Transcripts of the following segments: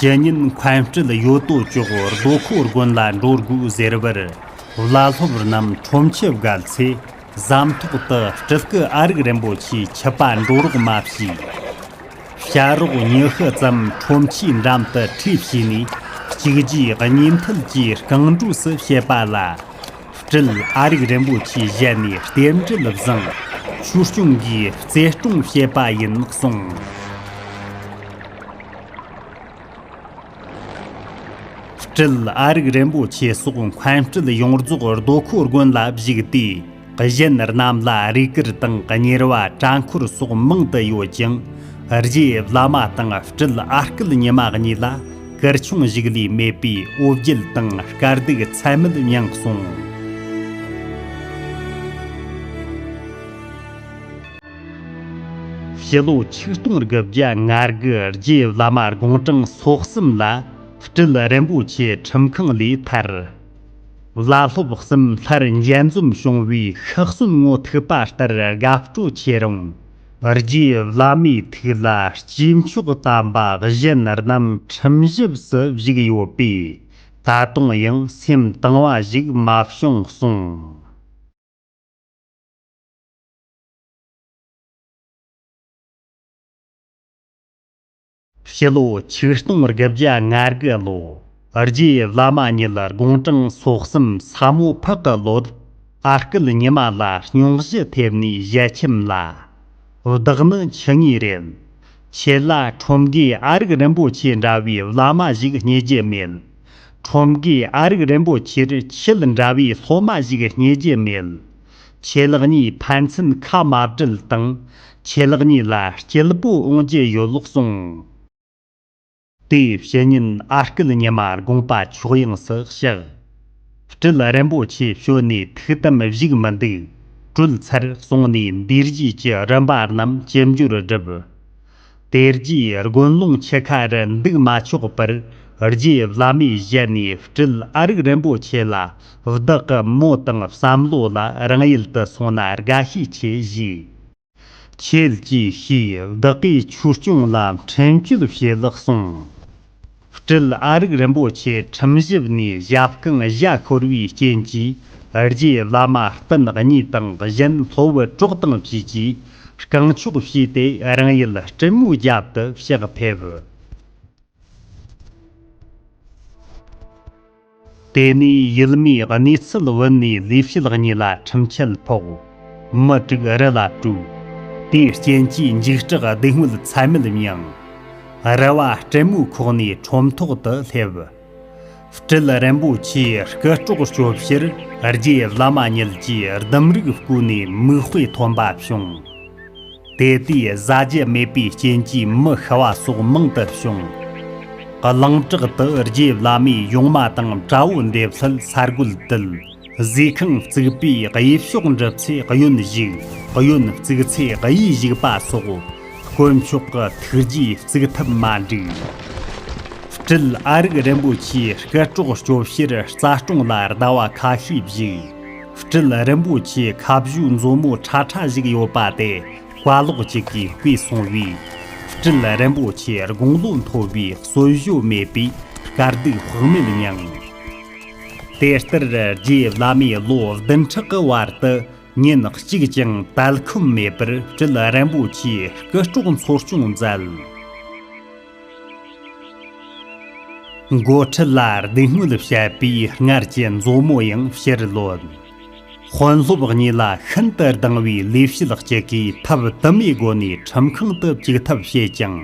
ཞེ་སྙེད་འཁོན་སྤྲུལ་ཡོད་དོ་ཅོག་རྡོ་ཁོ་དགོན་ལ་འགྲོ་དགོས་ཟེར་བར་བླ་སློབ་རྣམས་ཁྲོམ་ཆེ་བརྒལ་ཚེ་ཟམ་ཐོག་ཏུ་སྤྲུལ་སྐུ་ཨ་རིག་རིན་པོ་ཆེའི་ཆུ་པ་འགྲོ་རོགས་མ་ཞུས། བྱ་རོག་ཉི་ཤུ་ཙམ་ཁྲོམ་ཆེའི་འགྲམ་དུ་ཁྲིད་བྱས་ནས་བཅུག་རྗེས་ཉིན་ཐུལ་གྱིས་རྐང་འགྲོས་སུ་བྱེད་པ་ལ། སྤྲུལ་ཨ་རིག་རིན་པོ་ཆེའི་ཞལ་ནས་རྟེན་འབྲེལ་བཟང། ཆོས་སྐྱོང་གིས་བརྩེ་སྐྱོང་བྱེད་པ་ཡིན་གསུངས། སྤྲུལ་ཨ་རིག་རིན་པོ་ཆེ་སོགས་འཁོན་སྤྲུལ་ཡོངས་རྫོགས་རྡོ་འཁོར་དགོན་ལ་བཞུགས་ཏེ། གཞན་རྣམས་ལ་རུས་སྐར་དང་གཉེར་བ་བྲང་འཁོར་སོགས་མང་དུ་ཡོད་ཅིང། རྗེ་བླ་མ་དང་སྤྲུལ་ཨ་སྐལ་ཉི་མ་གཉིས་ལ། སྐར་ཆུང་བཞུགས་ལས་མེད་པའི་དབུ་བརྒྱུད་དང་དཀའ་སྡུག་ཚད་མེད་མྱངས་སོང། ཕྱི་ལོ་ཆིག་སྟོང་དགུ་བརྒྱ་ང་དགུ་རྗེས་བླ་མ་དགོངས་གྲངས་སོ་གསུམ་ལ་སྤྲུལ་རིན་པོ་ཆེ་ཁྲིམས་ཁང་ལས་ཐར། བླ་སློབ་གསུམ་སླར་མཇལ་འཛོམས་བྱུང་བའི་ཤི་གསོན་ངོ་ཐུག་པ་ལྟར་དགའ་སྤྲོ་ཆེ་རུང། རྗེས་བླ་མའི་ཐུགས་ལ་སྐྱེས་མཆོག་བལྟམས་པ་གཞན་རྣམས་ཁྲིམས་བཞིབས་སུ་བཞུགས་ཡོད་པས་ད་དུང་ཡང་སེམས་གཏིང་བ་ཞིག་མ་བྱུང་གསུངས། ཕྱི་ལོ་ཆིག་སྟོང་དགུ་བརྒྱ་ལྔ་དགུ་ལོ་རྗེ་བླ་མ་ཉིད་ལ་དགུང་གྲངས་སོ་གསུམ་ས་མོ་ཕག་གི་ལོ་ཟླ་ཨ་སྐུལ་ཉི་མ་ལ་སྙུང་གཞི་ཐེབས་ནས་བཞད་ཁྱིམ་ལ་བདག་ནི་འཆི་ངེས་རེད། ཁྱེད་ལ་ཁྲོམ་དགེ་ཨ་རིག་རིན་པོ་ཆེ་འདྲ་བའི་བླ་མ་ཞིག་རྙེད་རྒྱུ་མེད། ཁྲོམ་དགེ་ཨ་རིག་རིན་པོ་ཆེར་ཁྱེད་འདྲ་བའི་སློབ་མ་ཞིག་རྙེད་རྒྱུ་མེད། ཆད་ལག་གཉིས་ཕན་ཚུན་ཁ་མ་བྲལ་སྟངས་ཆད་ལག་གཉིས་ལ་སྐྱེ་སྤོ་འོང་རྒྱུ་ཡོད་ལོག་གསུངས། དེའི་བཤེས་གཉེན་ཨ་སྐུལ་ཉི་མ་དགོངས་པ་ཕྱོགས་ཡངས་སུ་བཤགས། སྤྲུལ་རིན་པོ་ཆེ་བྱོན་ནས་ཐུགས་དམ་བཞུགས་མི་འདུག་སྤྲུལ་ཚར་སོང་ནས་འདུས་བྱས་ཀྱི་རིམ་པ་རྣམས་ཇི་འབྱོར་བསྒྲུབས། དེ་རྗེས་དགོན་ཀློང་ཆུ་ཁར་འདུག་མ་ཆོག་པར་རྗེ་བླ་མའི་ཞལ་ནས་སྤྲུལ་ཨ་རིག་རིན་པོ་ཆེ་ལ་བདག་གི་མོ་དང་བསམ་བློ་ལ་རང་ཡུལ་དུ་སོང་ན་དགའ་ཤས་ཆེ་བཞེས་ཆེད་ཅེས་ཞུས་བདག་གིས་ཆོས་སྐྱོང་ལ་འཕྲིན་བཅོལ་བྱེད་ལགས་གསུངས། སྤྲུལ་ཨ་རིག་རིན་པོ་ཆེ་ཁྲིམས་ཞིབ་ནས་གཞལ་རྐང་བཞག་ཤོར་བའི་རྐྱེན་གྱིས་རྗེ་བླ་མ་སྤུན་གཉིས་དང་གཞན་ལྷོ་བུ་གྲོགས་དང་བཅས་ཀྱིས་རྐང་ཕྱོགས་བྱས་ཏེ་རང་ཡུལ་སྤྲེལ་མོའི་རྒྱབ་ཏུ་ཕྱག་ཕེབས། དེ་ནས་ཡུལ་མིའི་གནས་ཚུལ་བོད་ནས་ལས་བྱེད་གཉིས་ལ་ཁྲིམས་ཆད་ཕོག། མི་དྲུག་རི་ལ་བྲོས། དེའི་རྐྱེན་གྱིས་འཇིགས་སྐྲག་སྡུག་བསྔལ་ཚད་མེད་མྱངས། རི་བ་སྤྲེལ་མོའི་ཁོག་ནས་ཁྲོམ་ཐོག་ཏུ་སླེབས། སྤྲེལ་རིན་པོ་ཆེའི་སྐུ་གྲོགས་སྤྱོད་བཤེར་རྗེ་བླ་མ་ཉིད་ཀྱིས་ལྡུམ་རིགས་བརྐོས་ནས་མིག་དཔེ་ཐོན་པ་བྱུང། དེ་དུས་བཟའ་རྒྱུ་མེད་པའི་རྐྱེན་གྱིས་མི་ཤི་བ་སོགས་མང་དུ་བྱུང། གླིང་བྲག་ཏུ་རྗེ་བླ་མའི་ཡུངས་མ་དང་དགྲ་བོ་འདེབས་སླད་ས་རྒོད་དུལ་བཟོའི་ཁང་བརྩིགས་པས་དབྱིབས་གཤོག་འགྲིབ་ཚེ་གཡོན་བཞུགས་གཡོན་བརྩིགས་ཚེ་གཡས་བཞུགས་པ་སོགས་དཀོན་མཆོག་གི་ཐུགས་རྗེས་བརྩིགས་ཐབས་མ་འགྲིགས། སྤྲུལ་ཨ་རིག་རིན་པོ་ཆེའི་སྐུ་གྲོགས་སྐྱོབ་ཕྱིར་རྩ་སྐྲུང་ལ་ཟླ་བ་ཁ་ཤས་བཞུགས། སྤྲུལ་རིན་པོ་ཆེའི་ཁ་བཞུགས་མཛོ་མོ་ཁྲ་ཁྲ་བཞུགས་ཡོད་པ་དེ་བཀའ་ལོག་ཅིག་གིས་བརྐུས་སོང་བས། སྤྲུལ་རིན་པོ་ཆེ་དགུང་ལོ་མཐོ་བའི་གསོལ་བཞོ་མེད་པས་དཀའ་སྡུག་བག་མེད་མྱངས། དེ་ལྟར་རྗེ་བླ་མས་ལོ་བདུན་ཕྲག་གི་བར་དུ་ཉིན་གཅིག་ཀྱང་དལ་འཁུམས་མེད་པར་སྤྲུལ་རིན་པོ་ཆེའི་སྐུ་དཀྲོགས་འཚོ་སྐྱོང་མཛད། མགོ་ཁྲིད་ལ་སྡུག་བསྔལ་བཤད་པའི་སྔར་གྱི་མཛོ་མོ་ཡང་ཕྱིར་ལོན། དཔོན་སློབ་གཉིས་ལ་ཤིན་ཏུ་སྡང་བའི་ལས་བྱེད་གཅིག་གིས་ཐབས་དུ་མའི་སྒོ་ནས་ཁྲིམས་ཁང་དུ་བཅུག་ཐབས་བྱས་ཀྱང།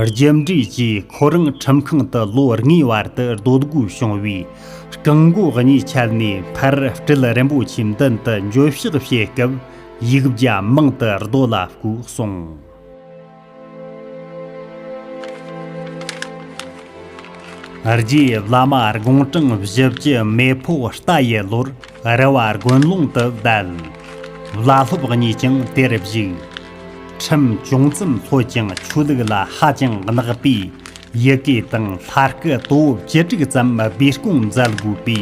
རྒྱུ་འབྲས་ཀྱིས་ཁོ་རང་ཁྲིམས་ཁང་དུ་ལོ་ལྔའི་བར་དུ་སྡོད་དགོས་བྱུང་བས། རྐང་མགོ་གཉིས་ཆད་ནས་ཕར་སྤྲུལ་རིན་པོ་ཆེའི་མདུན་དུ་འགྱོད་བཤགས་བྱེད་སྐབས་ཡིག་བརྒྱ་མང་དུ་རྡོ་ལ་བརྐོས་སོང། རྗེའི་བླ་མ་དགུང་གྲངས་བཞི་བཅུ་མེ་ཕོ་རྟ་ཡི་ལོར་རི་བ་དགོན་ལུང་དུ་བསྡད། བླ་སློབ་གཉིས་ཀྱང་དེར་བཞུགས། ཁྲིམས་ཅུང་ཙམ་ལྷོད་ཀྱང་ཆོས་ལུགས་ལ་ཧ་ཅང་བརྣག་པས་ཡི་གེ་དང་ལྷ་སྐུ་དོ་བོ་བཅུ་དྲུག་ཙམ་སྦས་སྐོང་མཛད་དགོས་པའི་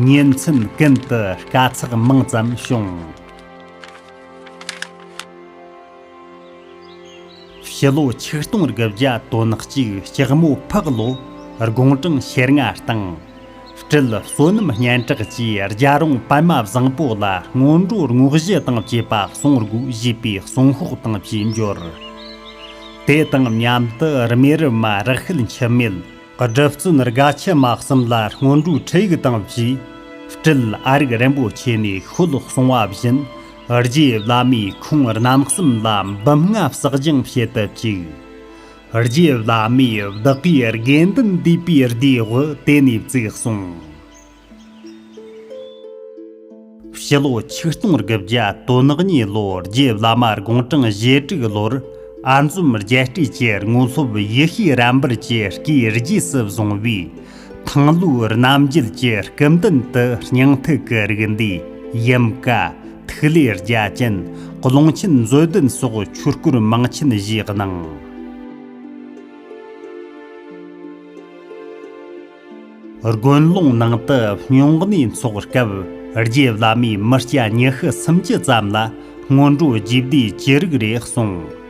ཉིན་མཚན་ཀུན་ཏུ་དཀའ་ཚེགས་མང་ཙམ་བྱུང། ཕྱི་ལོ་ཆིག་སྟོང་དགུ་བརྒྱ་དོན་གཅིག་སྐྱག་མོ་ཕག་ལོ་དགུང་གྲངས་ཞེ་ལྔ་སྟེང། སྤྲུལ་བསོད་ནམས་སྙན་གྲགས་ཀྱིས་རྒྱ་རོང་པདྨ་བཟང་པོ་ལ་སྔོན་འགྲོ་བསྔོག་བཞི་དང་བཅས་པ་གསུང་དགུ་བཞེས་པའི་གསུང་ཤོག་དང་བཅས་འབྱོར། དེ་དང་མཉམ་དུ་རྨེ་རུ་མ་རག་ཤེལ་འཆི་མེད་སྒྲུབ་བརྩོན་དགའ་ཆེན་དམག་གསུམ་ལ་སྔོན་འགྲོའི་ཁྲིད་ཡིག་དང་བཅས་སྤྲུལ་ཨ་རིག་རིན་པོ་ཆེ་ནས་ཤོད་གསུང་བ་བཞིན་རྗེ་བླ་མས་ཁོང་རྣམ་གསུམ་ལ་འབུམ་ལྔ་བསགས་སྦྱང་བྱེད་དུ་བཅུག། རྗེ་བླ་མས་བདག་གིས་དགེ་འདུན་འདུས་པའི་སྡེ་དབུ་དེ་ནས་བཙུགས་གསུངས། ཕྱི་ལོ་ཆིག་སྟོང་དགུ་བརྒྱ་དོན་ནག་ཉིན་ལོར་རྗེ་བླ་མ་དགུང་གྲངས་བཞི་དྲུག་ལོར་ཨ་འཛོམ་རྒྱལ་སྤྲུལ་གྱི་དངོས་སློབ་ཡེ་ཤེས་རབ་འབུལ་གྱི་བཀའི་རྗེས་སུ་བཟུང་བས་ཐང་ལྷོའི་རྣམ་རྒྱལ་གྱི་སྐུ་མདུན་དུ་སྙིང་ཐིག་གི་རིགས་འདུས་དབྱིན་བཀའ། ཐིག་ལེ་རྒྱ་ཅན། ཀློང་ཆེན་མཛོད་བདུན་སོགས་ཆོས་སྐོར་མང་ཆེན་བཞེས་གནང། དགོན་ཀློང་ནང་དུ་སྨྱུང་གནས་འཚོགས་སྐབས་རྗེ་བླ་མས་མི་སྐྱ་ཉི་ཤུ་སུམ་ཅུ་ཙམ་ལ་སྔོན་འགྲོ་རྒྱས་བསྡུས་ཅི་རིགས་རེ་གསུངས།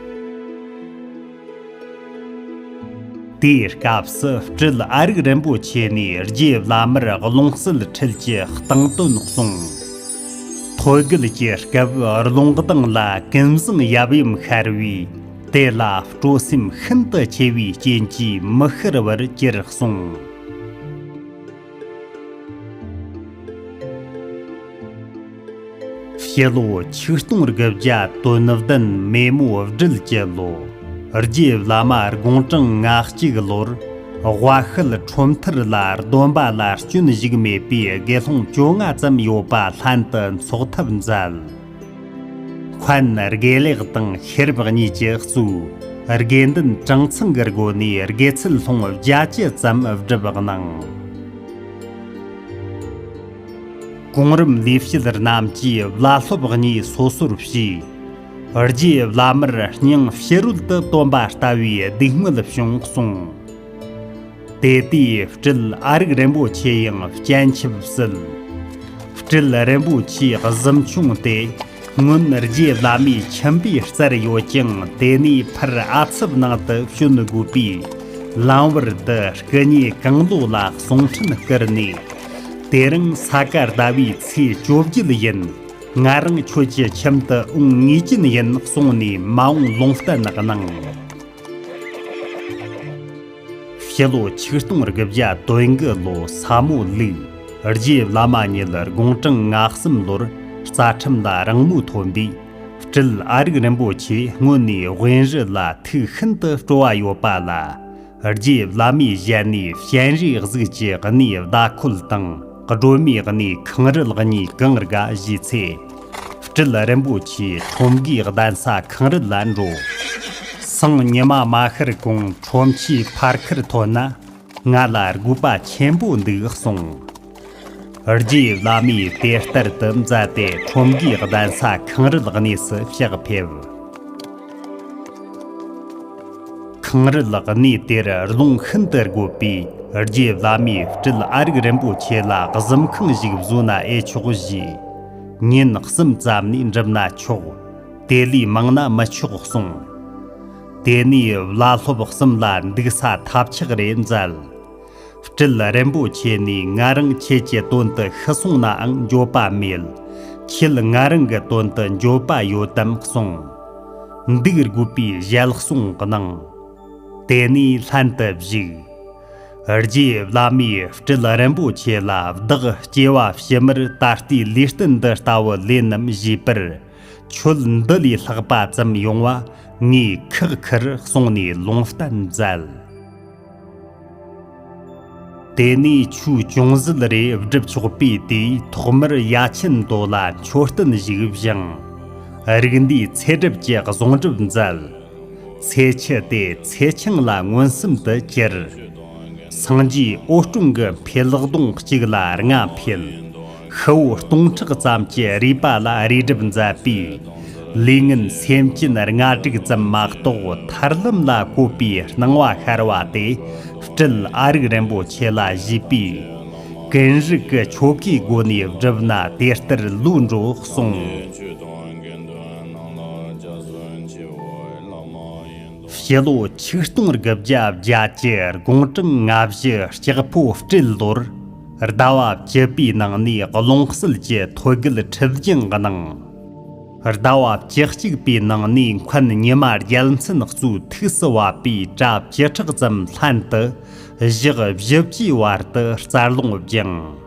དེའི་སྐབས་སུ་སྤྲུལ་ཨ་རིག་རིན་པོ་ཆེ་ནས་རྗེ་བླ་མར་ཀློང་གསལ་འཕྲུལ་གྱི་སྟེང་དོན་གསུངས། ཐོད་རྒལ་གྱི་སྐབས་ཀློང་གདངས་ལ་ཀུན་བཟང་ཡབ་ཡུམ་ཤར་བས་དེ་ལ་སྤྲོ་སེམས་ཤིན་ཏུ་ཆེ་བའི་རྐྱེན་གྱིས་མི་ཤར་བར་གྱུར་གསུངས། བཤད་ལོ་ཆིག་སྟོང་རྒྱབ་བརྒྱ་དོན་བདུན་མེ་མོ་བསྒྲིལ་བསྐྱེད་ལོ། རྗེ་བླ་མ་དགུང་གྲངས་ང་གཅིག་ལོར། དབའ་ཤུལ་ཁྲོམ་མཐར་ལ་སྡོམ་པ་ལ་སྐྱོན་བཞུགས་མེད་པའི་དགེ་སློང་བཅོ་ལྔ་ཙམ་ཡོད་པ་ལྷན་དུ་འཚོགས་ཐབས་མཛད། འཁོན་དགེ་ལེགས་དང་ཤེར་བག་གཉིས་ཀྱི་གཙོས་དགེ་འདུན་གྲངས་ཚང་གི་སྒོ་ནས་དགེ་ཚུལ་སློང་བརྒྱ་ཅི་ཙམ་བསྒྲུབས་གནང། གོང་རིམ་ལས་བྱེད་རྣམས་ཀྱིས་བླ་སློབ་གཉིས་སོ་སོར་ཕྱེས། རྗེས་བླ་མར་སྙིང་ཕྱི་རོལ་ཏུ་སྟོན་པ་ལྟ་བུའི་སྡིག་དམོད་བྱུང་གསུངས། དེ་དུས་སྤྲུལ་ཨ་རིག་རིན་པོ་ཆེ་ཡང་སྤྱན་ཆབ་བསིལ། སྤྲུལ་རིན་པོ་ཆེའི་གཟིམ་ཆུང་དེ་སྔོན་རྗེ་བླ་མའི་ཁྱིམ་པའི་རྩར་ཡོད་ཅིང་དེ་ནས་ཕར་ཨ་ཚུབ་ནང་དུ་བྱོན་དགོས་པས་ལམ་བར་དུ་སྐུ་ཉེ་གང་ལོ་ལ་གསུང་འཕྲིན་བསྐུར་ནས། དེ་རིང་ས་ག་ཟླ་བའི་ཚེས་བཅོ་བརྒྱད་ཡིན། ང་རང་ཁྱོད་ཀྱི་ཁྱིམ་དུ་འོང་ངེས་ཀྱིན་ཡིན་གསུངས་ནས་མ་འོངས་ལུང་བསྟན་གནང། ཕྱི་ལོ་ཆིག་སྟོང་དགུ་བརྒྱ་དོན་དགུ་ལོ་ས་མོ་ལུག་རྗེས་བླ་མ་ཉིད་དགུང་གྲངས་ང་གསུམ་ལོར་རྩ་ཁྲིམས་ལ་རང་མོས་ཐོན་པས་སྤྲུལ་ཨ་རིག་རིན་པོ་ཆེ་སྔོན་ནས་དབེན་རི་ལ་ཐུགས་ཤིན་ཏུ་སྤྲོ་བ་ཡོད་པ་ལ་རྗེས་བླ་མའི་ཞལ་ནས་ཞལ་འབྲས་གཟུགས་ཀྱི་གནས་བརྡ་འཁོད་དང། སྒྲོལ་མའི་གནས་ཁང་རི་ལག་གཉིས་གང་རྒ་བཞེས་ཚེ། སྤྲུལ་རིན་པོ་ཆེའི་ཁྲོམ་གའི་གདན་ས་གང་རི་ལ་འགྲོ། སང་ཉི་མ་མ་ཤར་གོང་ཁྲོམ་ཆའི་ཕར་ཁུར་ཐོན་ན་ང་ལ་དགོས་པ་ཆེན་པོ་འདུག་གསུངས། རྗེ་བླ་མས་དེ་ལྟར་དུ་མཛད་དེ་ཁྲོམ་གའི་གདན་ས་གང་རི་ལག་གནས་སུ་ཕྱག་ཕེབས། གངས་རི་ལགས་གནས་དེར་རླུང་ཤིན་ཏུ་རྒོད་པས་རྗེ་བླ་མའི་སྤྲུལ་ཨ་རིག་རིན་པོ་ཆེ་ལ་གཟིམ་ཁང་ཞིག་བཟོ་ན་ཨེ་ཆོག་བཞེས། ཉིན་གསུམ་ཙམ་ནས་འགྲུབ་ན་ཆོག་དེ་ལས་མང་ན་མི་ཆོག་གསུངས། དེ་ནས་བླ་སློབ་གསུམ་ལ་འདུག་ས་ཐབས་ཆག་རེ་མཛད། དྲིལ་རན་པོ་ཁྱེད་ནས་ང་རང་ཁྱེད་ཀྱི་དོན་དུ་ཤི་སོང་ནའང་འགྱོད་པ་མེད། ཁྱེད་ང་རང་གི་དོན་དུ་འགྱོད་པ་ཡོད་དམ་གསུངས། འདུག་རྒུད་པའི་ཞལ་གསུང་གནང། དེ་ནས་ལྷན་དུ་བཞུགས། རྗེ་བླ་མས་དྲིལ་རན་པོ་ཁྱེད་ལ་བདག་སྐྱེ་བ་ཕྱི་མར་ད་ལྟའི་ལུས་རྟེན་འདི་ལྟ་བུ་ལེན་ནམ་བཞེས་པར། ཁྱོད་འདི་ལས་ལྷག་པ་ཙམ་ཡོང་བ་ངས་ཁག་ཁུར་གསུངས་ནས་ལུང་བསྟན་མཛད། དེ་ནས་ཆུའི་ཅུང་ཟད་རེ་བསྒྲུབས་ཆོག་པས་དེས་ཐོག་མར་ཡ་མཆན་མདོ་ལ་མཆོད་རྟེན་བཞུགས་བཞེངས། རིགས་འདུས་ཚེ་སྒྲུབ་ཀྱི་གཟུངས་སྒྲུབ་མཛད། ཚེ་ཕྱི་དེ་ཚེ་ཆུང་ལ་མངོན་སུམ་དུ་གྱུར། སངས་རྒྱས་ཨོ་སྐྲུང་གི་འཕེལ་གདུང་གཅིག་ལ་ལྔ་འཕེལ། ཁུ་བོ་སྟོང་ཕྲག་ཙམ་གྱི་རུས་པ་ལ་རུས་སྒྲིབ་མཛད་པས། ལུས་ངན་སེམས་ཅན་ལྔ་དྲུག་ཙམ་མ་གཏོགས་མཐར་ལམ་ལ་བཀོད་པའི་སྣང་བ་ཤར་བ་དེ་སྤྲུལ་ཨ་རིག་རིན་པོ་ཆེ་ལ་བཞུགས་པས། ཀུན་རིག་གི་ཆོ་གའི་སྒོ་ནས་བསྒྲུབས་ན་དེ་ལྟར་ལུགས་འགྲོ་གསུངས། སྤྱི་ལོ་ཆིག་སྟོང་དགུ་བརྒྱ་བརྒྱད་ཀྱི་དགུང་གྲངས་ལྔ་བཞི་ལྕགས་ཕོ་སྤྲེལ་ལོར། ཟླ་བ་བཅུ་པའི་ནང་ནས་ཀློང་གསལ་གྱི་ཐོད་རྒལ་ཁྲིད་རྒྱུན་གནང། ཟླ་བ་བཅུ་གཅིག་པའི་ནང་ནས་འཁོན་ཉི་མ་རྒྱལ་མཚན་གཙོས་ཐུགས་སུ་བབ་པའི་གྲྭ་བཅུ་ཕྲག་ཙམ་ལྷན་དུ་བཞག་བཞི་བཅུའི་བར་དུ་རྩར་ལོངས་སྦྱངས།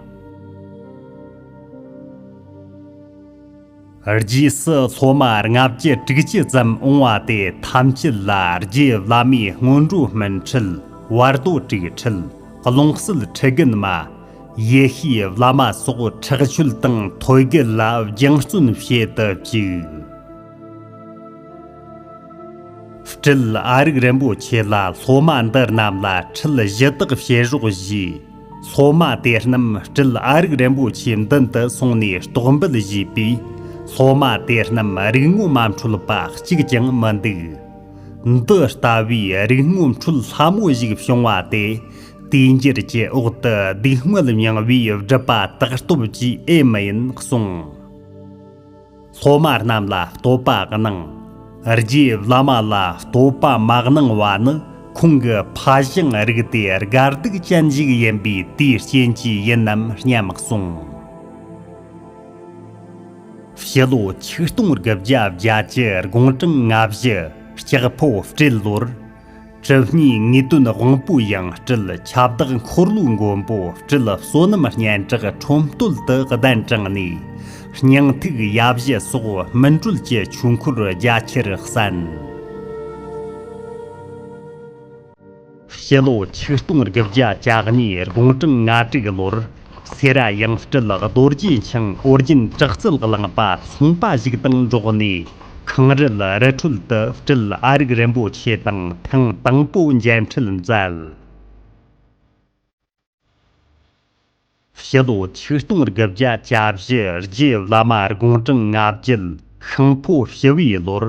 རྗེས་སུ་སློབ་མ་ལྔ་བརྒྱ་དྲུག་བརྒྱུད་ཙམ་འོང་བ་དེ་ཐམས་ཅད་ལ་རྗེ་བླ་མའི་སྔོན་འགྲོ་སྨིན་ཁྲིད་བར་དོ་དྲུག་ཁྲིད་ཀློང་གསལ་ཁྲི་རྒན་མ། ཡེ་ཤེས་བླ་མ་སོགས་ཁྲག་ཆོད་དང་ཐོད་རྒལ་ལ་རྒྱང་བརྩོན་བྱེད་དུ་བཅུག། སྤྲུལ་ཨ་རིག་རིན་པོ་ཆེ་ལ་སློབ་མ་འདི་རྣམས་ལ་ཁྲིད་གཞི་དག་བྱེད་རོགས་བཞུགས། སློབ་མ་དེ་རྣམས་སྤྲུལ་ཨ་རིག་རིན་པོ་ཆེའི་མདུན་དུ་སོང་ནས་རྟོག་འབུལ་བྱས་པས། སློབ་མ་དེ་རྣམས་རིག་དངོས་མ་འཕྲོད་པ་གཅིག་ཀྱང་མི་འདུག། འདི་ལྟ་བུའི་རིག་དངོས་འཕྲོད་སླ་མོ་ཞིག་བྱུང་བ་དེ། དུས་འགྱུར་གྱི་འོག་ཏུ་སྡུག་བསྔལ་མྱངས་པའི་སྒྲུབ་པ་དག་སྟོབས་ཀྱིས་ཨེ་མ་ཡིན་གསུངས། སློབ་མ་རྣམས་ལ་བསྟོད་པ་གནང། རྗེས་བླ་མ་ལ་བསྟོད་པ་མ་གནང་བ་ནི་ཁོང་གི་ཕ་ཞིང་རིགས་དེ་དགའ་སྡུག་ཅན་ཞིག་ཡིན་པས་དེའི་རྐྱེན་གྱིས་ཡིན་ནམ་སྙམ་གསུངས། ཕྱི་ལོ་ཆིག་སྟོང་དགུ་བརྒྱ་བརྒྱད་ཅུ་དགུང་གྲངས་ལྔ་བཞི་ལྕགས་ཕོ་སྤྲེལ་ལོར། གྲིབ་སྙིགས་ངེས་དོན་དབང་པོའི་དབྱངས་སྤྲུལ་ཁྱབ་བདག་འཁོར་ལོའི་མགོན་པོ་སྤྲུལ་བསོད་ནམས་སྙན་གྲགས་ཁྲོམ་སྟོད་དུ་གདན་དྲངས་ནས། སྙིང་ཐིག་ཡབ་བཞི་སོགས་སྨིན་གྲོལ་གྱི་ཆོས་འཁོར་རྒྱ་ཆེར་གསན། སྤྱི་ལོ་ཆིག་སྟོང་དགུ་བརྒྱ་གྱ་གཉིས་དགུང་གྲངས་ང་དྲུག་ལོར། སེ་ར་ཡང་སྤྲུལ་རྡོ་རྗེ་འཆང་ཨོ་རྒྱན་བྲག་རྩལ་བླངས་པ་ཚངས་པ་བཞུགས་སྟེང་འབྲོག་ནས་ཁང་རལ་རི་ཁྲོད་དུ་སྤྲུལ་ཨ་རིག་རིན་པོ་ཆེ་དང་ཐེངས་དང་པོ་མཇལ་འཕྲད་མཛད། ཕྱི་ལོ་ཆིག་སྟོང་དགུ་བརྒྱ་གྱ་བཞི་རྗེ་བླ་མ་དགོངས་སྤྲིང་ལྔ་བརྒྱུད་ཤིང་ཕོ་བཞི་བའི་ལོར་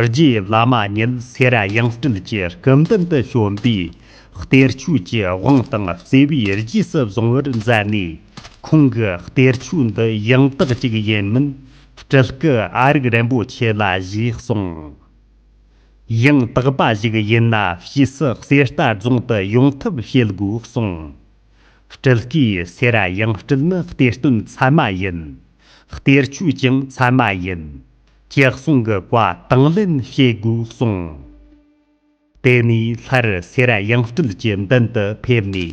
རྗེ་བླ་མ་ཉིད་སེ་ར་ཡང་སྤྲུལ་གྱི་སྐུ་མདུན་དུ་བྱོན་པས། གཏེར་ཆོས་ཀྱི་དབང་དང་བརྩེ་བས་རྗེས་སུ་བཟུང་བར་མཛད་ནས། ཁོང་གི་གཏེར་ཆོས་འདི་ཡང་དག་ཅིག་ཡིན་མིན་དྲིལ་སྐུ་ཨ་རིག་རིན་པོ་ཆེ་ལ་བཞེས་གསུངས། ཡང་དག་པ་ཞིག་ཡིན་ན་ཕྱིས་སུ་གསེར་རྟ་རྫོང་དུ་ཡོང་ཐབས་བྱེད་དགོས་གསུངས། དྲིལ་སྐུའི་སེ་ར་ཡང་སྤྲུལ་ནི་གཏེར་སྟོན་ཚད་མ་ཡིན། གཏེར་ཆོས་ཀྱང་ཚད་མ་ཡིན། ཀྱི་གསུང་གི་བཀའ་དང་ལེན་བྱེད་དགོས་གསུངས། དེ་ནས་ལྷར་སེ་ར་ཡང་སྤྲུལ་གྱི་མདུན་དུ་ཕེབས་ནས།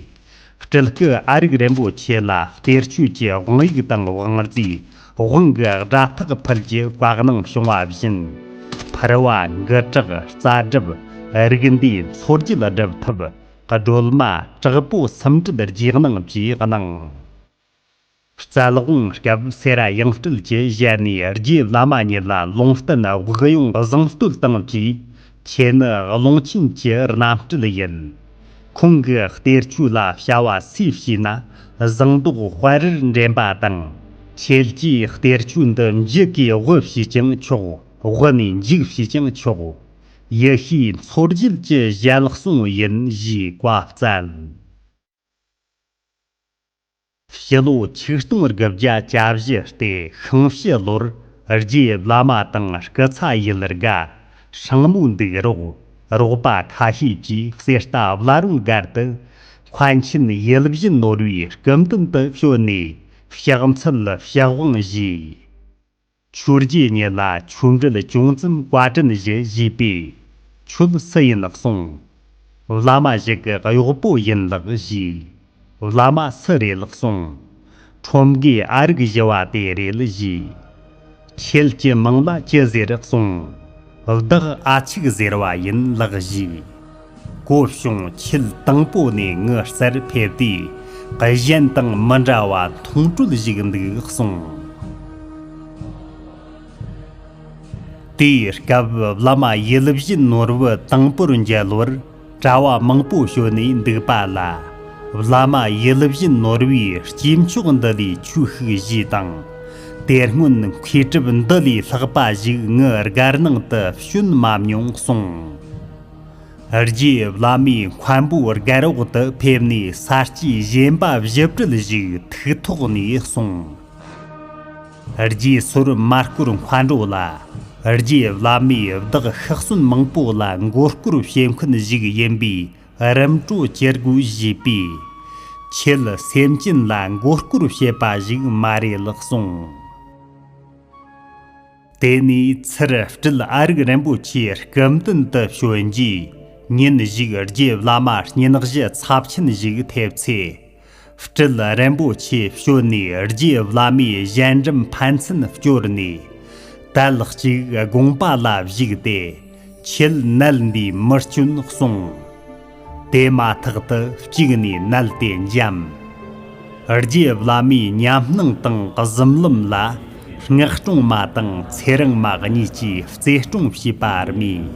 སྤྲུལ་སྐུ་ཨ་རིག་རིན་པོ་ཆེ་ལ་གཏེར་ཆོས་ཀྱི་དབང་ཡིག་དང་དབང་རྫས་དབང་གི་སྒྲ་ཐག་ཕུལ་གྱི་བཀའ་གནང་བྱུང་བ་བཞིན། ཕུར་བ་འགུ་དྲག་རྩ་སྒྲུབ་རིགས་འདུས་མཚོ་རྒྱུད་སྒྲུབ་ཐབས་སྒྲོལ་མ་དྲག་པོ་སུམ་སྒྲུབ་རྗེས་གནང་བཅས་གནང། རྩ་ལག་དབང་སྐབས་སེ་ར་ཡང་སྤྲུལ་གྱི་ཞལ་ནས་རྗེ་བླ་མ་ཉིད་ལ་ལུང་བསྟན་དབུགས་དབྱུང་བཟང་བསྟོད་བཏང་རྗེས་ཁྱེད་ནི་ཀློང་ཆེན་གྱི་རྣམ་སྤྲུལ་ཡིན། ཁོང་གི་གཏེར་ཆོས་ལ་བྱ་བ་སུས་བྱས་ན་བཟང་མདོག་དཔལ་རིར་འདྲེན་པ་དང། ཁྱེད་ཀྱིས་གཏེར་ཆོས་འདི་འཇིག་གིས་དབུལ་ཞེས་ཀྱང་ཆོག་དབུལ་ནས་འཇིག་ཞེས་ཀྱང་ཆོག་ཡེ་ཤེས་མཚོ་རྒྱལ་གྱི་ཞལ་གསུང་ཡིན་ཞེས་བཀའ་སྩལ། ཕྱི་ལོ་ཆིག་སྟོང་དགུ་བརྒྱ་གྱ་བཞི་སྟེ་ཤིང་བྱི་ལོར་རྗེ་བླ་མ་དང་སྐུ་ཚ་ཡུལ་དགའ་ཧྲེང་མོ་འདུག་རོགས་རོགས་པ་ཁ་ཤས་ཀྱིས་གསེར་རྟ་བླ་རུང་སྒར་དུ་མཁན་ཆེན་ཡུལ་བཞི་ནོར་བུའི་སྐུ་མདུན་དུ་བྱོན་ནས་ཕྱག་འཚལ་ཕྱག་དབང་བཞེས། ཆུ་རྒྱུས་ཉིད་ལ་ཆུ་འབྲུལ་ཅུང་ཙམ་བཀའ་དྲིན་བཞེས་བཞེས་པས་ཆུབ་སྲིད་ཡིན་ལགས་གསུངས། བླ་མ་ཞིག་གི་གཡོག་པོ་ཡིན་ལགས་བཞེས། བླ་མ་སུ་རེད་ལགས་གསུངས། ཁྲོམ་དགའི་ཨ་རིག་བཞི་བ་དེ་རེད་བཞེས། ཁྱེད་ཀྱི་མིང་ལ་ཅི་ཟེར་གསུངས། བདག་ཨ་ཆིག་ཟེར་བ་ཡིན་ལག་བཞུགས། སྐུ་གཤོངས་ཁྱེད་དང་པོ་ནས་ངུ་གསར་ཕེབས་དུས་གི་གཞན་དང་མི་འདྲ་བ་མཐོང་གྲོལ་བཞུགས་འདུག་གསུངས། དེའི་སྐབས་བླ་མ་ཡུལ་བཞི་ནོར་བུ་དང་པོར་མཇལ་བར། གྲྭ་བ་མང་པོ་ཞོལ་ནས་འདུག་པ་ལ། བླ་མ་ཡུལ་བཞིན་ནོར་བུའི་སྐྱེས་མཆོག་འདི་ལས་ཆོས་ཤིག་བཞེས་དང། དེ་སྔོན་མཁས་གྲུབ་འདི་ལས་ལྷག་པ་ཞིག་ངའི་སྒར་ནང་དུ་བྱོན་མ་མྱོང་གསུངས། རྗེ་བླ་མས་མཁའ་འབོད་སྒར་འོག་ཏུ་ཕེབས་ནས་ས་སྐྱའི་གཞན་པ་བཞི་བཀྲུལ་བཞུགས་ཐུགས་ཐོག་ནས་གསུངས། རྗེས་སོར་མ་སྐོར་མཁའ་འགྲོ་ལ། རྗེས་བླ་མའི་བདག་ཤག་སྲུན་མང་པོ་ལ་མགོ་སྐོར་བྱེད་མཁན་ཞིག་ཡིན་པས་རིམ་གྲོ་བྱེད་དགོས་བཞེས་པས། ཁྱེད་སེམས་ཅན་ལ་མགོ་སྐོར་བྱེད་པ་ཞིག་མ་རེད་ལགས་གསུངས། དེ་ནས་ཚུར་སྤྲུལ་ཨ་རིག་རིན་པོ་ཆེ་སྐུ་མདུན་དུ་བྱོན་རྗེས་ཉིན་ཞིག་རྗེས་བླ་མ་བསྙེན་གཞི་ཚབས་ཆེན་ཞིག་ཐེབས་ཚེ། སྤྲུལ་རིན་པོ་ཆེ་བྱོན་ནས་རྗེ་བླ་མའི་གཞན་འགྲམ་ཕན་ཚུན་བསྐྱོར་ནས། དལ་གཅིག་དགོངས་པ་ལ་བཞུགས་ཏེ་ཆོས་མནལ་འདིའི་མི་སྐྱོན་གསུངས། དེ་མ་ཐག་ཏུ་གཅིག་ནས་མནལ་དེ་འཇམ། རྗེ་བླ་མའི་ཉམས་སྣང་དང་གཟིམ་ལམ་ལ། མངགས་སྐྲུང་མ་དང་ཚེ་རིང་མ་གཉིས་ཀྱིས་རྩེ་སྐྲུང་བྱས་པ་རྨིས།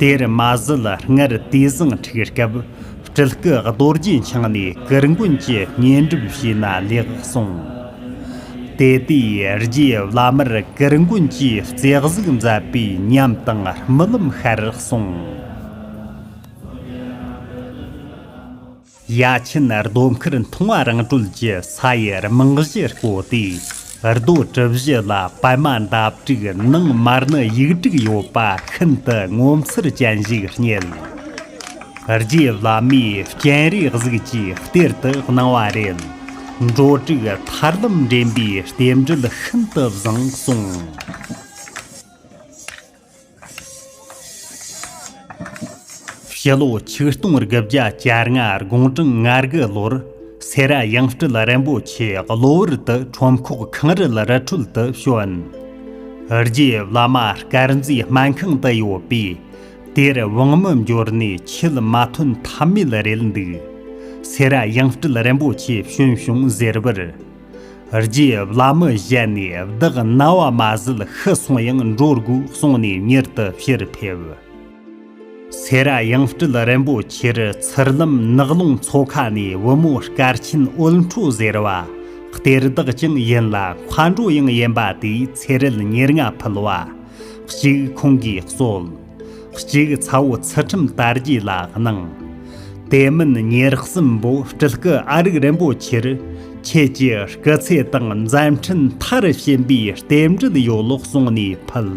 དེར་མ་ཟིལ་སྔར་དུས་བཟང་འཁྲིགས་སྐབས་སྤྲུལ་སྐུ་རྡོ་རྗེ་འཆང་ནས་གུར་མགོན་གྱི་བསྙེན་སྒྲུབ་བྱས་ན་ལེགས་གསུངས། དེ་དུས་རྗེ་བླ་མར་གུར་མགོན་གྱིས་རྩེ་གཟིགས་མཛད་པའི་ཉམས་དང་རྨི་ལམ་ཤར་གསུངས། ཡ་ཆེན་རྡོ་མཁར་མཐོང་བ་རང་གྲོལ་གྱི་ས་ཡི་རྨང་གཞི་བརྐོ་སྟེ་རྡོ་གྲུ་བཞི་ལ་པད་མ་འདབ་དྲུག་ནང་མར་ནི་ཡིག་དྲུག་ཡོད་པ་ཤིན་ཏུ་ངོ་མཚར་ཅན་ཞིག་རྙེད། རྗེ་བླ་མའི་སྤྱན་རས་གཟིགས་ཀྱི་གཏེར་དུ་སྣང་བ་རེད། འབྲུ་དྲུག་ཐར་ལམ་འདྲེན་པའི་རྟེན་འབྲེལ་ཤིན་ཏུ་བཟང་གསུངས། ཕྱི་ལོ་ཆིག་སྟོང་དགུ་བརྒྱ་བཅར་ལྔ་དགུང་གྲངས་ང་དགུ་ལོར་སེ་ར་ཡང་སྤྲུལ་རིན་པོ་ཆེ་གློ་བུར་དུ་ཁྲོམ་ཁོག་ཁང་རིལ་རི་ཁྲོད་དུ་བྱོན། རྗེ་བླ་མ་དཀར་མཛེས་སྨན་ཁང་དུ་ཡོད་པས་དེར་དབང་མི་འབྱོར་ནས་ཆོས་མ་ཐོན་ཐབས་མེད་རེད་འདུག་སེ་ར་ཡང་སྤྲུལ་རིན་པོ་ཆེ་བྱོན་བྱུང་ཟེར་བར། རྗེས་བླ་མི་བཞད་ནས་བདག་རྣ་བ་མ་ཟིལ་ཤི་སོང་ཡང་འགྲོ་དགོས་གསུངས་ནས་མྱུར་དུ་ཕྱིར་ཕེབས། སེ་ར་ཡང་སྤྲུལ་རིན་པོ་ཆེར་ཚུར་ལམ་ནགས་ཀླུང་མཚོ་ཁ་ནས་བུ་མོ་སྐར་ཆེན་དབུལ་འཕྲོ་ཟེར་བ་གཏེར་བདག་ཀྱང་ཡིན་ལ་མཁའ་འགྲོ་ཡང་ཡིན་པ་དེའི་ཚེ་རལ་ཉེར་ལྔ་ཕུལ་བ་གཅིག་ཁོང་གིས་གསོལ། གཅིག་ཚ་བོ་ཚུལ་ཁྲིམས་དར་རྒྱས་ལ་གནང། དེ་མིན་ཉེར་གསུམ་པོ་སྤྲུལ་སྐུ་ཨ་རིག་རིན་པོ་ཆེར་ཁྱེད་ཀྱི་སྐུ་ཚེ་དང་མཛད་འཕྲིན་མཐར་ཕྱིན་པའི་རྟེན་འབྲེལ་ཡོད་ལོག་གསུང་ནས་ཕུལ།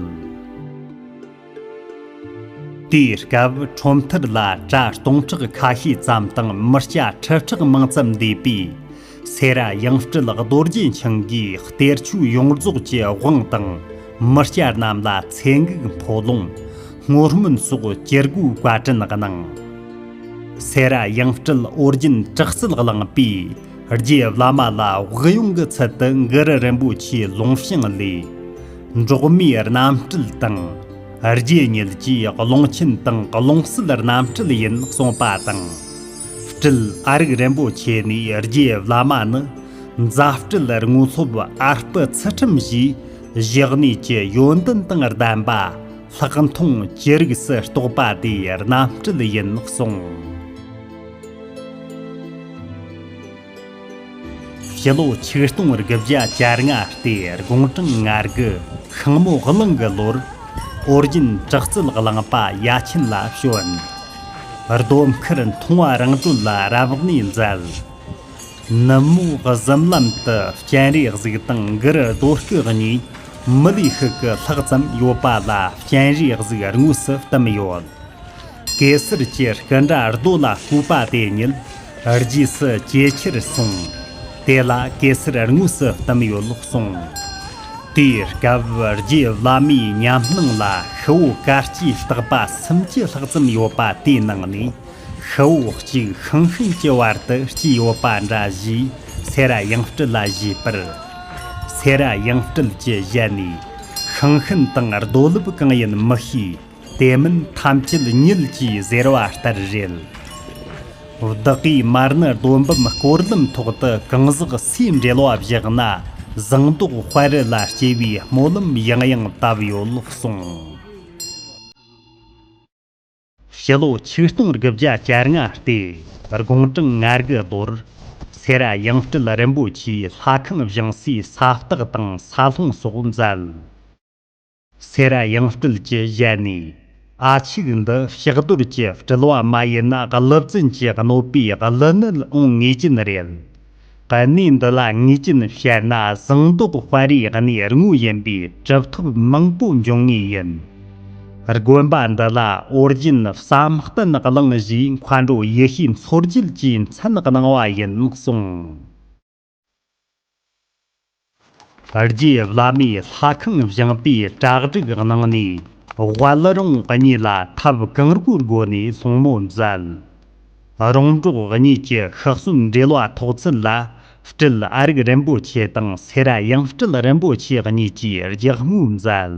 དེའི་སྐབས་ཁྲོམ་མཐར་ལ་གྲྭ་སྟོང་ཕྲག་ཁ་ཤས་ཙམ་དང་མི་སྐྱ་ཁྲི་ཕྲག་མང་ཙམ་འདུས་པས་སེ་ར་དབྱངས་སྤྲུལ་རྡོ་རྗེ་འཆང་གིས་གཏེར་ཆོས་ཡོངས་རྫོགས་ཀྱི་དབང་དང། མི་སྐྱ་རྣམས་ལ་ཚེ་འགུགས་འཕོ་ལོང། བསྔོ་སྨོན་སོགས་སྤྱིར་སྒོའི་བཀའ་དྲིན་གནང། སེ་ར་དབྱངས་སྤྲུལ་ཨོ་རྒྱན་བྲག་རྩལ་བླངས་པས་རྗེ་བླ་མ་ལ་དབུགས་དབྱུང་གི་ཚུལ་དུ་མགུར་རིན་པོ་ཆེའི་ལུང་བྱིངས་ལས། འབྲོག་མིའི་རྣམ་སྤྲུལ་དང། རྗེ་ཉིད་ཀྱིས་ཀློང་ཆེན་དང་ཀློང་གསལ་རྣམ་སྤྲུལ་ཡིན་གསུངས་པ་དང། སྤྲུལ་ཨ་རིག་རིན་པོ་ཆེ་ནས་རྗེ་བླ་མ་ནི་མཛའ་སྤྲེལ་རྔོ་ལྷོབ་ཨ་སྤུ་ཚུལ་ཁྲིམས་བཞིའི་གཞག་གནས་ཀྱི་ཡོན་ཏན་དང་ལྡན་པ་ལྷག་མཐོང་ཅི་རིགས་སུ་རྟོགས་པ་དེ་རྣམ་སྤྲུལ་ཡིན་གསུངས། སྤྱི་ལོ་ཆིག་སྟོང་དགུ་བརྒྱ་བཅར་ལྔ་སྟེ་དགུང་གྲངས་ང་དགུ་ཤིང་མོ་གླིང་གི་ལོར་ཨོ་རྒྱན་བྲག་རྩལ་བླངས་པ་ཡ་ཆེན་ལ་བྱོན། རྡོ་མཁར་མཐོང་བ་རང་གྲོལ་ལ་རབ་གནས་མཛད། ནུབ་མོ་གཟིམ་ལམ་དུ་སྤྱན་རས་གཟིགས་དང་འགུ་རུ་རྡོ་སྐུ་གཉིས་མི་ལུས་ཤུགས་ཀྱི་ལྷག་ཙམ་ཡོད་པ་ལ་སྤྱན་རས་གཟིགས་དངོས་སུ་བསྟིམས་ཡོད། གེ་སར་གྱི་སྐུ་འདྲ་རྡོ་ལ་བརྐུས་པ་དེ་ཉིད་རྗེས་སུ་ཇེ་ཆེར་སོང། དེ་ལ་གེ་སར་དངོས་སུ་བསྟིམས་ཡོད་ལུགས་གསུངས། དེའི་སྐབས་རྗེ་བླ་མའི་ཉམས་སྣང་ལ་ཤི་བོ་ག་སྐྱའི་རྟག་པ་སུམ་ཅུ་ལྷག་ཙམ་ཡོད་པ་དེའི་ནང་ནས་ཤི་བོ་གཅིག་ཤིང་ཤུན་གྱི་བར་དུ་སྐྱེས་ཡོད་པ་འདྲ་ཞེས་སེ་ར་ཡང་སྤྲུལ་ལ་བཞེས་པར། སེ་ར་ཡང་སྤྲུལ་གྱིས་བཞེད་ནས་ཤིང་ཤུན་དང་རྡོ་ལུབ་གང་ཡིན་མི་ཤེས། དེ་མིན་ཐམས་ཅད་ཉིད་ཀྱིས་ཟེར་བ་ལྟར་རེད། བདག་གིས་མར་ནི་རྡོ་འབུམ་བསྐོར་ལམ་ཐོག་ཏུ་གང་ཟག་སུས་འབྲེལ་བ་བཞག་ན་ཟངས་མདོག་དཔལ་རི་ལ་སྐྱེ་བའི་སྨོན་ལམ་ཡང་ཡང་བཏབ་ཡོད་གསུངས། ཕྱི་ལོ་ཆིག་སྟོང་དགུ་བརྒྱ་བཅར་ལྔ་སྟེ་དགུང་གྲངས་ང་དགུ་རྡོར་སེ་ར་ཡང་སྤྲུལ་རིན་པོ་ཆེའི་ལྷ་ཁང་བཞེངས་སའི་ས་སྟག་དང་ས་སློང་སོགས་མཛད། སེ་ར་ཡང་སྤྲུལ་གྱི་ཞལ་ནས། ཨ་ཕྱུག་འདི་ཕྱག་རྡོར་གྱི་སྤྲུལ་བ་མ་ཡིན་ན་ཀླུ་བཙུན་གྱི་གནོད་པའི་གླུ་ནི་འོང་ངེས་ཀྱིན་རེད། གནས་འདི་ལ་ངེས་ཀྱིན་བཤད་ན་ཟངས་མདོག་དཔའ་རིས་གནས་དངོས་ཡིན་པས་གྲུབ་ཐོབ་མང་པོ་འབྱུང་ངེས་ཡིན། དགོན་པ་འདི་ལ་ཨོ་རྒྱན་བསམ་གཏན་གླིང་བཞིའི་མཁའ་འགྲོ་ཡེ་ཤེས་མཚོ་རྒྱལ་གྱིས་མཚན་གནང་བ་ཡིན་གསུངས། རྗེ་བླ་མས་ལྷ་ཁང་བཞེངས་པའི་གྲྭ་སྒྲིག་གནང་ནས་དབལ་རོང་གཉིས་ལ་ཐབས་གང་རྒོད་སྒོ་ནས་སྲུང་མོ་མཛད། རོང་འབྲོག་གཉིས་ཀྱི་ཤག་སྲུང་འབྲེལ་བ་ཐོགས་ཚུལ་ལ་སྤྲུལ་ཨ་རིག་རིན་པོ་ཆེ་དང་སེ་ར་ཡང་སྤྲུལ་རིན་པོ་ཆེ་གཉིས་ཀྱིས་རྒྱག་རྔོ་མཛད།